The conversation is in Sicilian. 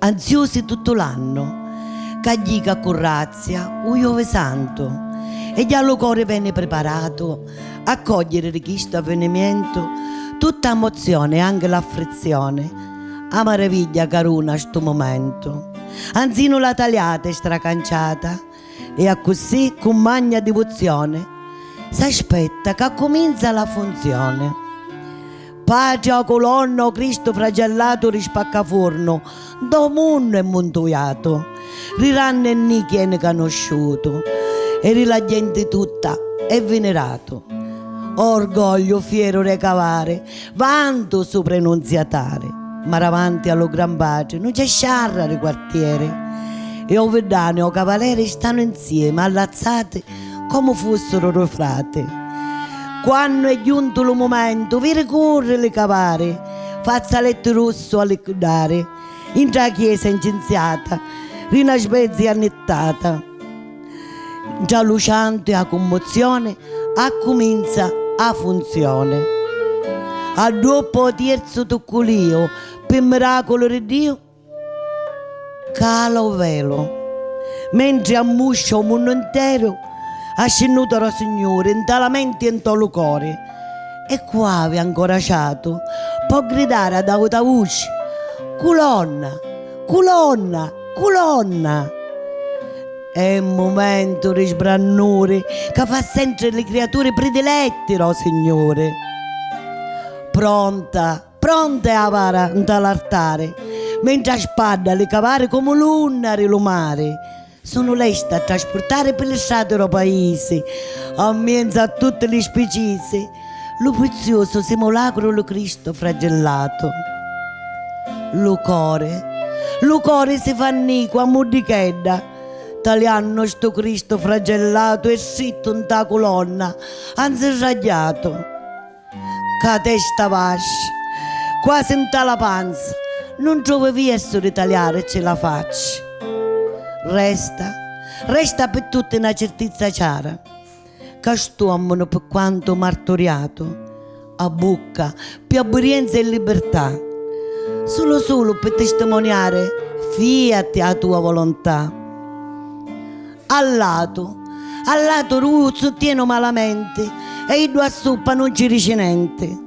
Anziosi tuttu l'annu. Ca jì ca currazzia u Iovi Santu. E già lu cori veni priparatu a cògghiri di chistu avvinimientu tutta ammozioni e anchi l'affrizioni. A maravigghia ca runa stu mumentu. Anzinu la taliata e stracanciata. E accussì cu magna divuzioni s'aspetta ca cuminza la funzioni. Patria o culonna o Cristu fragellatu ri spaccafurnu do munnu è muntuiatu ri ranni e nichi eni canusciutu e ri la genti tutta è viniratu. O orgogliu fieru re cavari Vantu supra 'i Nunziatari. Ma davanti a lu Gran Patri nun c'è sciarra di quartieri. E 'u viddanu e 'u cavaleri stanu 'nziemi allazzati comu fussiru dui frati. Quannu è giuntu lu mumentu viri curri li cavari fazzaletti russu a liquidari intra 'a chiesa incinziata di 'na svezia annittata. Ntra lu ciantu e 'a cummozioni accuminza 'a funzioni. Adduoppu 'o tierzu tucculìu, pi miraculu ri Diu, cala 'o velu. Mentri ammuscia 'o munnu nteru, ascinnuta d' 'o Signuri nta la menti e nto lu cori, e cu avi ancora ciatu, po' gridari ad auta vuci, Culonna! Culonna! Culonna! È un mumentu di sbrannuri ca fa sentri li criaturi pridiletti dô Signuri. Pronta, pronta è 'a vara nta l'artari, mentri 'a spadda li cavari comu l'unna di lu mari sunnu lesti a traspurtari pi li strati dô paisi, 'n mienzu a tutti li spicisi, Lu prizziusu simulacru lu Cristu fragillatu lu cori lu cori si fa nicu a muddichedda taliannu stu Cristu fragellatu e strittu nta culonna ha nzirragghiatu cca testa vascia quasi nta la panza nun trovi viersu di taliarici la faccia resta resta pi tutti na cirtizza ciara. ca st'uommunu pi quantu marturiatu a bucca pi abburienza e libirtà sulu sulu pi tistimoniari fiati a tua volontà a latu a latu ru suttienu malamenti e iddu a suppa nun ci dici nenti